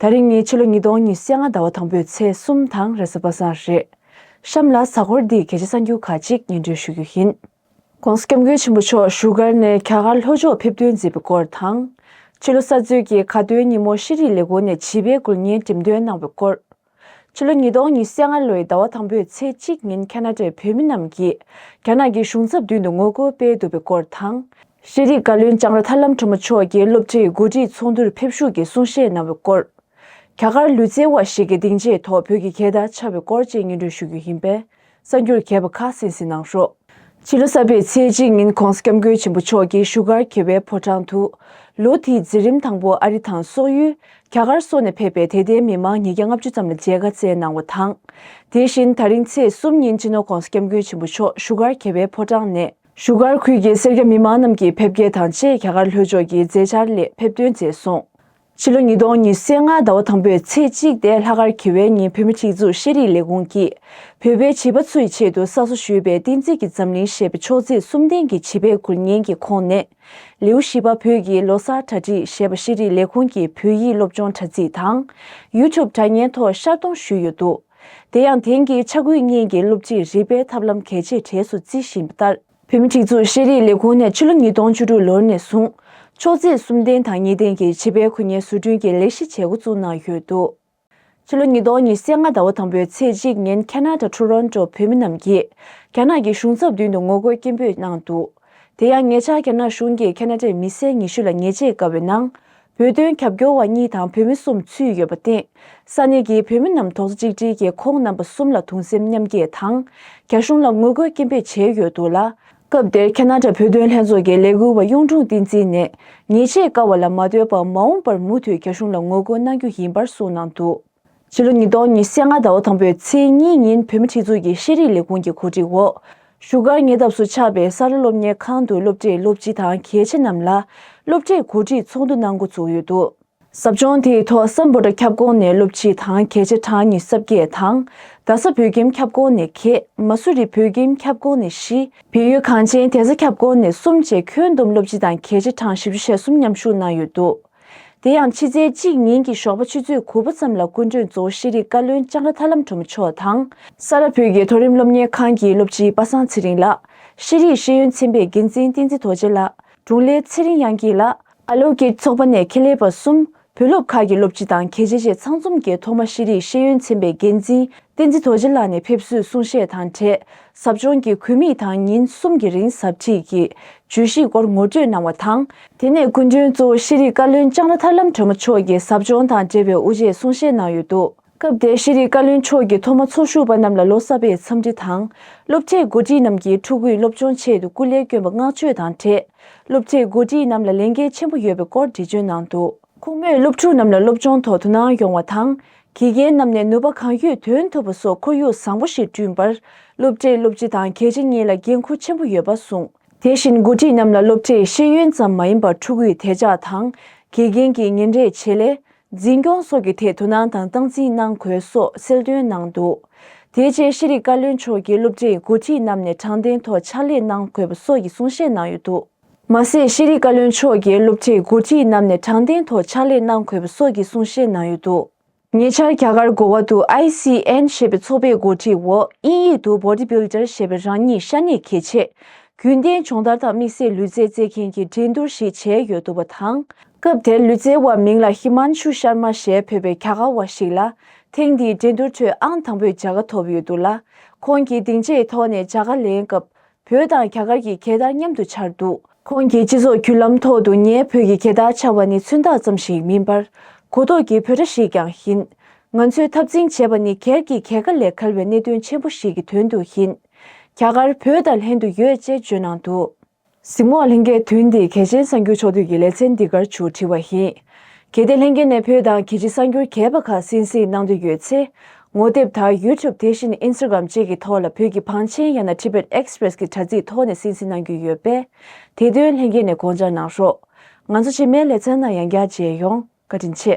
ད་རིང་ནི་ཕྱི་ལོ་ཉིས་སྟོང་ཉི་ཤེས་ལྔ་ཟླ་བ་དང་པོའི་ཚེས་གསུམ་དང་རེས་གསར་པ་སང་རེད། གཤམ་ལ་གཟའ་འཁོར་འདིའི་གལ་ཆེ་ས་འགྱུར་ཁག་ཅིག་སྙན་སྒྲོན་ཞུ་རྒྱུ་ཡིན། ྋགོང་ས ྋསྐྱབས་མགོན་ཆེན་པོ་མཆོག་བཞུགས་སྒར་ནས་རྒྱ་གར་ལྷོ་ཕྱོགས་ཕེབས་ཐོན་མཛད་པའི་སྐོར་དང། ཕྱི་ལོ་གསར་ཚོད་ཀྱི་གྷ་སྟོན་ཉིན་མོ་ཤེས་རིག་ལས་ཁུངས་ནས་བྱིས་པའི་དགོན་རྙིང་འགྲེམས་སྟོན་གནང་བའི་སྐོར། ཕྱི་ལོ་ཉིས་སྟོང་ཉི་ཤས་ལྔ་ལོའི་ཟླ་བ་དང་པོའི་ཚེས་གཅིག་ཉིན་ཁ་ན་ཏའི་བོད་མི་རྣམས་ཀྱིས་རྒྱ་ནག་གི་གཞུང་ཚབ་མདུན་དུ་ངོ་རྒོལ་སྤེལ་འདུག་པའི་སྐོར་དང། ཤེས་རིག་བཀའ་བློན་ལྕང་ར་ཐར་ལམ་གྲོ་མོ་མཆོག་རྒྱའི་སློབ་གྲྭའི་འགོ་ཁྲིད་ཚོགས་འདུར་ཕེབས་ཞུགས་ཀྱིས་གསུང་བཤད་གནང་བའི་སྐོར། རྒྱ་གར་ལུས་རྩལ་བ་ཞིག་གི་སྡིངས་ཆའི་ཐོག་བོད་ཀྱི་གད་བདར་འཕྱར་བའི་སྐོར་བཅས་སྙན་སྒྲོན་ཞུ་རྒྱུ་ཡིན་པས། གསར་འགྱུར་མཁས་པ་ཁག་གསན་གཟིགས་གནང་ཞོར། ཕྱི་ལོ་གསར་པའི་ཚེས་གཅིག་ཉིན་ཁོང་སྐྱབས་མགོན་ཆེན་པོ་མཆོག་གི་བཞུགས་སྒར་གྱེར་བའི་ཕོ་བྲང་དུ། ལོ་དེའི་འཛིན་རིམ་དང་པོ་ཨ་རི་དང་སོག་ཡུལ། རྒྱ་གར་སོགས་ནས་ཕེབས་པའི་དད་ལྡན་མི་མང་ཉིས་བརྒྱ་ལྔ་བཅུ་ཙམ་ལ་མཇལ་ཁ་བསྩལ་གནང་བ་དང། དེ་བཞིན་ད་རིང་ཚེས་གསུམ་ཉིན་སྤྱི་ནོར་ཁོང་སྐྱབས་མགོན་ཆེན་པོ་མཆོག་བཞུགས་སྒར་གྱེར་བའི་ཕོ་བྲང་ནས། བཞུགས་སྒར་ཁུལ་གྱི་སེར་སྐྱ་མི་མང་རྣམས་ཀྱིས་ཕེབས་སྐྱེལ་དང་བཅས་རྒྱ་གར་ལྷོད་ཕྱོགས་ཀྱི་མཛད་འཆར་སླད་ཕེབས་སྟོན་མཛད་སོང། ཕྱི་ལོ་ཉིས་སྟོང་ཉི་ཤེས་ལྔ་ཟླ་བ་དང་པོའི་ཚེས་གཅིག་སྟེ་ལྷག་དཀར་གྱི་བའི་ཉིན་བོད་མི་སྒྲིག་འཛུགས་ཤེས་རིག་ལས་ཁུངས་ཀྱིས་བོད་པའི་བྱིས་པ་ཚོ་ཡི་ཆེད་དུ་གསར་བཟོ་ཞུས་པའི་བསྟན་རྩིས་ཀྱི་འཛམ་གླིང་ཞེས་པའི་ཕྱོགས་རྩིས་གསུམ་ལྡན་གྱི་བྱིས་པའི་འགུལ་བརྙན་གྱི་ཁོངས་ནས། ལེའུ་བཞི་པ་བོད་ཀྱི་ལོ་གསར་གྲ་སྒྲིག་ཞེས་པ་ཤེས་རིག་ལས་ཁུངས་ཀྱི་བོད་ཡིག་སློབ་སྦྱོང་དྲ་ཚིགས་དང། YouTube དྲ་བརྙན་ཐོག་ཤར་གཏོང་ཞུས་ཡོད་འདུག་དེ་ཡང་དེང་གི་ཆ་འགུལ་བརྙན་གྱི་སློབ་ཁྲིད་རིག་པའི་ཐབས་ལམ་གལ་ཆེ་གྲས་སུ་བརྩི་བཞིན་པ་ལྟར། བོད་མི་སྒྲིག་འཛུགས་ཤེས་རིག་ལས་ཁུངས་ནས་ཕྱི་ལོ་ཉིས་སྟོང་བཅུ་དྲུག་ལོར་ནས་བཟུང། ཕྱོགས་བརྩེགས་གསུམ་ལྡན་དང་གཉིས་ལྡན་གྱི་བྱིས་པའི་གུས་ཉེས་བཟོ་སྐྲུན་གྱི་ལས་གཞི་བྱེད་འགོ་བཙུགས་གནང་ཡོད་འདུག་ཕྱི་ལོ་ཉིས་སྟོང་ཉིས་སེ་ལྔ་ཟླ་བ་དང་པོའི་ཚེས་གཅིག་ཉིན་ཁ་ནཱ་ད་ཁྲུ་རོན་ཏོ་བོད་མི་རྣམས་ཀྱིས་རྒྱ་ནག་གི་གཞུང་ཚབ་མདུན་དུ་ངོ་རྒོལ་སྐད་འབོད་གནང་འདུག་དེ་ཡང་ཉེ་ཆར་རྒྱ་ནག་གཞུང་གིས་ཁ་ནཱ་ཏའི་མི་སེར་ཉི་ཤུ་ལ་ཉེས་ཆད་བཀལ་བའི་ནང་བོད་དོན་རྒྱབ་སྐྱོར་བ་གཉིས་དང་བོད་མི་གསུམ་ཚུད་ཡོད་པ་སྟེ། ས་གནས་ཀྱི་བོད་མི་རྣམས་དོགས་གཙོ་གཅིག་སྒྲིལ་གྱིས་ཁོང་རྣམ་པ་གསུམ་ལ་དུང་སེམས་མཉམ་སྐྱེད་དང། རྒྱ་གཞུང་ལ་ངོ་རྒོལ་སྐྱེན་འབེབས་བྱས་ཡོད་འདུག་ལ། སྐབས་དེར་ཁ་ནཱ་དྲ་བོད་དོན་ལྷན་ཚོགས་ཀྱི་ལས་འགུལ་བ་གཡུང་དྲུང་བསྟན་འཛིན་ནས་ཉེས་ཆད་བཀག་བ་ལ་མ་ལྟོས་པར་མ་འོངས་པར་མུ་མཐུད་རྒྱ་གཞུང་ལ་ངོ་རྒོལ་གནང་རྒྱུ་ཡིན་པར་གསུངས་གནང་འདུག། ཕྱི་ལོ་ཉིས་སྟོང་ཉི་ཤས་ལྔ་ཟླ་བ་དང་པོའི་ཚེས་གཉིས་ཉིན་བོད་མི་ཁྲི་ཚོ་གིས་ཤེས་རིག་ལས་ཁུངས་ཀྱི་གོ་སྒྲིག་འོག་བཞུགས་སྒར་ཉེ་འདབས་སུ་ཆགས་པའི་ས་རཱ་སློབ་གཉེར་ཁང་དུ་སློབ་གྲྭའི་སློབ་སྤྱི་དང་གལ་ཆེ་རྣམས་ལ་སློབ་གྲྭའི་གོ་སྒྲིག་ཚོགས་འདུ་གནང་འགོ་ཚུགས་ཡོད་འདུག། ཟབ་སྦྱོང་དེའི་ཐོག་ས་འབོ་དྲ་ཁྱབ་ཁོངས་ནས་སློབ་སྤྱི་དང་གལ་ཆེ་གྲངས་ཉི་ས་བརྒྱད་དང། རྡ་ས་བོད་ཁྱིམ་ཁྱབ་ཁོངས་ནས་གྷེ། མ་སུ་རི་བོད་ཁྱིམ་ཁྱབ་ཁོངས་ནས་བཞི། བལ་ཡུལ་གངས་ཅན་དེ་ས་ཁྱབ་ཁོངས་ནས་གསུམ་བཅས་ཁྱོན་བསྡོམས་སློབ་སྤྱི་དང་གལ་ཆེ་གྲངས་བཞི་བཅུ་ཞེ་གསུམ་མཉམ་ཞུགས་གནང་ཡོད་འདུག། དེ་ཡང་ཕྱི་ཚེས་གཅིག་ཉིན་གྱི་ཞོགས་པ་ཆུ་ཚོད་དགུ་པོ་ཙམ་ལ་སྐུ་མགྲོན་གཙོ་བོ་ཤེས་རིག་བཀའ་བློན་ལྕང་ར་ཐར་ལམ་གྲོ་མོ་མཆོག་དང། ས་རཱ་བོད་ཀྱི་མཐོ་རིམ་སློབ་གཉེར་ཁང་གི་སློབ་སྤྱི་པ་སངས་ཚེ་རིང་ལགས། ཤེས་རིག་ཤེས་ཡོན་ཚན་པའི་འགན་འཛིན་བསྟན་འཛིན་རྡོ་རྗེ་ལགས། དྲུང་ལས་ཚེ་རིང་དབྱངས་སྐྱིད་ལགས། ཨ་ལོ་སྐྱིད་ཚོགས་པ་ནས་ཁེ་ལས་པ་གསུམ། བུ་སློབ་ཁག་གི་སློབ་སྤྱི་དང་གལ་ཆེ་བཅས་ཚང་འཛོམས་ཀྱིས་ཐོག་མ་ཤེས་རིག་ཤེས་ཡོན་ཚན་པའི་འགན་འཛིན་བསྟན་འཛིན་རྡོ་རྗེ་ལགས་ནས་ཕེབས་བསུའི་གསུང་བཤད་དང་འབྲེལ་ཟབ་སྦྱོང་གི་གུས་དམིགས་དང་ཉིན་གསུམ་གྱི་རིང་ཟབ་ཁྲིད་ཀྱི་བརྗོད་གཞིའི་སྐོར་ངོ་སྤྲོད་གནང་བ་དང། དེ་ནས་སྐུ་མགྲོན་གཙོ་བོ་ཤེས་རིག་བཀའ་བློན་ལྕང་ར་ཐར་ལམ་གྲོས་མོ་མཆོག་གིས་ཟབ་སྦྱོང་དང་འབྲེལ་བའི་དབུ་འབྱེད་གསུང་བཤད་གནང་ཡོད་འདུག་སྐབས་དེར་ཤེས་རིག་བཀའ་བློན་མཆོག་གིས་ཐོག་མ་ཚོགས་ཞུགས་པ་རྣམས་ལ་ལོ་གསར་པའི་འཚམས་འདྲི་དང། སློབ་གྲྭའི་མགོ་ཁྲིད་རྣམས་ཀྱིས་ཕྲུ་གུའི་སློབ་སྦྱོང་ཆེད་དུ་སྐུ་ལས་བསྐྱོན་པ་བསྔགས་བརྗོད་དང་འབྲེལ་སློབ་གྲྭའི་མགོ་ཁྲིད་རྣམས་ལ་ལས་འགན་ཆེན་པོ་ཡོད་པའི་སྐོར་འགྲེལ་བརྗོད་གནང་འདུག། ཁོང་མོས་སློབ་ཕྲུག་རྣམས་ལ་སློབ་སྦྱོང་ཐོག་དོ་སྣང་ཡོང་བ་དང། དགེ་རྒན་རྣམས་ནས་ནུས་པ་གང་ཡོད་འདོན་ཐུབ་པ་སོགས་ཁོར་ཡུག་བཟང་པོ་ཞིག་བསྐྲུན་པར་སློབ་གྲྭས་སློབ་སྤྱི་དང་གལ་ཆེ་གཉིས་ལ་འགན་འཁུར་ཆེན་པོ་ཡོད་པ་གསུངས། དེ་བཞིན་མགོ་ཁྲིད་རྣམས་ལ་སློབ་གྲྭས་ཤེས་ཡོན་ཙམ་མ་ཡིན་པར་ཕྲུ་གུའི་དད་ཕྱག་དང། དགེ་རྒན་གྱི་ཉིན་རེའི་བྱེད་ལས། འཛིན་སྐྱོང་སོགས་ཀྱི་ཐད་དོ་སྣང་དང་སྟངས་འཛིན་གནང་དགོས་སོགས་གསལ་སྟོན་གནང་འདུག་དེ་རྗེས་ཤེས་རིག་བཀའ་བློན་མཆོག་གིས་སློབ་གྲྭའི་མགོ་ཁྲིད་རྣམས་ནས་དྲང་བདེན་ཐོག་ཕྱག་ལས་གནང་དགོས་པ་སོགས་ཀྱི་གསུང་བཤད་གནང་ཡོད་འདུག། མ་ཟད་ཤེས་རིག་བཀའ་བློན་མཆོག་གིས་སློབ་ཁྲིད་མགོ་ཁྲིད་རྣམས་ནས་དྲང་བདེན་ཐོག་ཕྱག་ལས་གནང་དགོས་པ་སོགས་ཀྱི་གསུང་བཤད་གནང་ཡོད་འདུག། ཉེ་ཆར་རྒྱ་གར་གོ་བ་དུ ICN ཞེས་པའི་ཚོགས་པའི་མགོ་ཁྲིད་འོག་དབྱིན་ཡིག་ཏུ Bodybuilder ཞེས་པའི་རང་ཉིད་ཤ་གནད་གལ་ཆེ། རྒྱུན་གཏན་སྦྱོང་བརྡར་དང་དམིགས་བསལ་ལུས་རྩལ་རྩེད་མཁན་གྱི་འགྲན་བསྡུར་ཞིག་བྱས་ཡོད་འདུག་པ་དང། སྐབས་དེར་ལུས་རྩལ་བ་མིང་ལ་ཧི་མཱན་ཆུ་ཤར་མཱ་ཞེས་འབོད་པའི་རྒྱ་གར་བ་ཞིག་ལ་ཐེངས་འདིའི་འགྲན་བསྡུར་ཁྲོད་ཨང་དང་པོས་བྱ་དགའ་ཐོབ་ཡོད་འདུག་ལ། ཁོང་གིས་སྡིངས་ཆའི་ཐོག་ནས་བྱ་དགའ་ལེན་སྐབས་བོད་དང་རྒྱ་གར་གྱི་གད་དར་མཉམ་དུ་འཕྱར་འདུག། ཁོང་གིས་སྤྱི་ཚོགས་བརྒྱུད་ལམ་ཐོག་ཏུ་ངའི་བོད་ཀྱི་གད་དར་འཕྱར་བ་ནི་མཚོན་རྟགས་ཙམ་ཞིག་མིན་པར། གོ་རྟོགས་ཀྱི་བོད་སྒྲ་ཞིག་ཀྱང་ཡིན། ང་ཚོས་འཐབ་འཛིང་བྱེད་པ་ནི་གར་གྱི་གད་ཁ་ལས་གར་བའི་གནད་དོན་ཆེན་པོ་ཞིག་གི་དོན་དུ་ཡིན། རྒྱ་གར་བོད་དང་ལྷན་དུ་ཡོད་ཅེས་བརྗོད་གནང་འདུག། གཟིགས་མོ་ལྷན་རྒྱས་དུས་འདི་གལ་ཆེན་གསར་འགྱུར་ཕྱོགས་བསྡུས་ཀྱི་ལེ་ཚན་འདི་གར་བྱུར་བྲིས་བ་ཡིན། གལ་ཏེ་ལྷན་རྒྱས་ནས་བོད་དང་གི་ཇི་གསར་འགྱུར་གས་པ་ཁག་གསན་གཟིགས་གནང་འདོད་ཡོད་ཚེ། ངོ་དེབ་དག YouTube དེ་བཞིན Instagram བཅས་ཀྱི་ཐོག་ལ་བོད་ཀྱི་བང་ཆེན་ཡང་ན Tibet Express གྱི་དྲ་ཚིགས་ཐོག་ནས་སིན་སིན་གནང་རྒྱུ་ཡོད་པས། དེ་དོན་ལྷན་རྒྱས་ནས་དགོངས་འཇགས་གནང་རོགས། ང་ཚོ་ཕྱི་མའི་ལེ་ཚན་ནང་ཡང་བསྐྱར་མཇལ་ཡོང། བཀའ་དྲིན་ཆེ།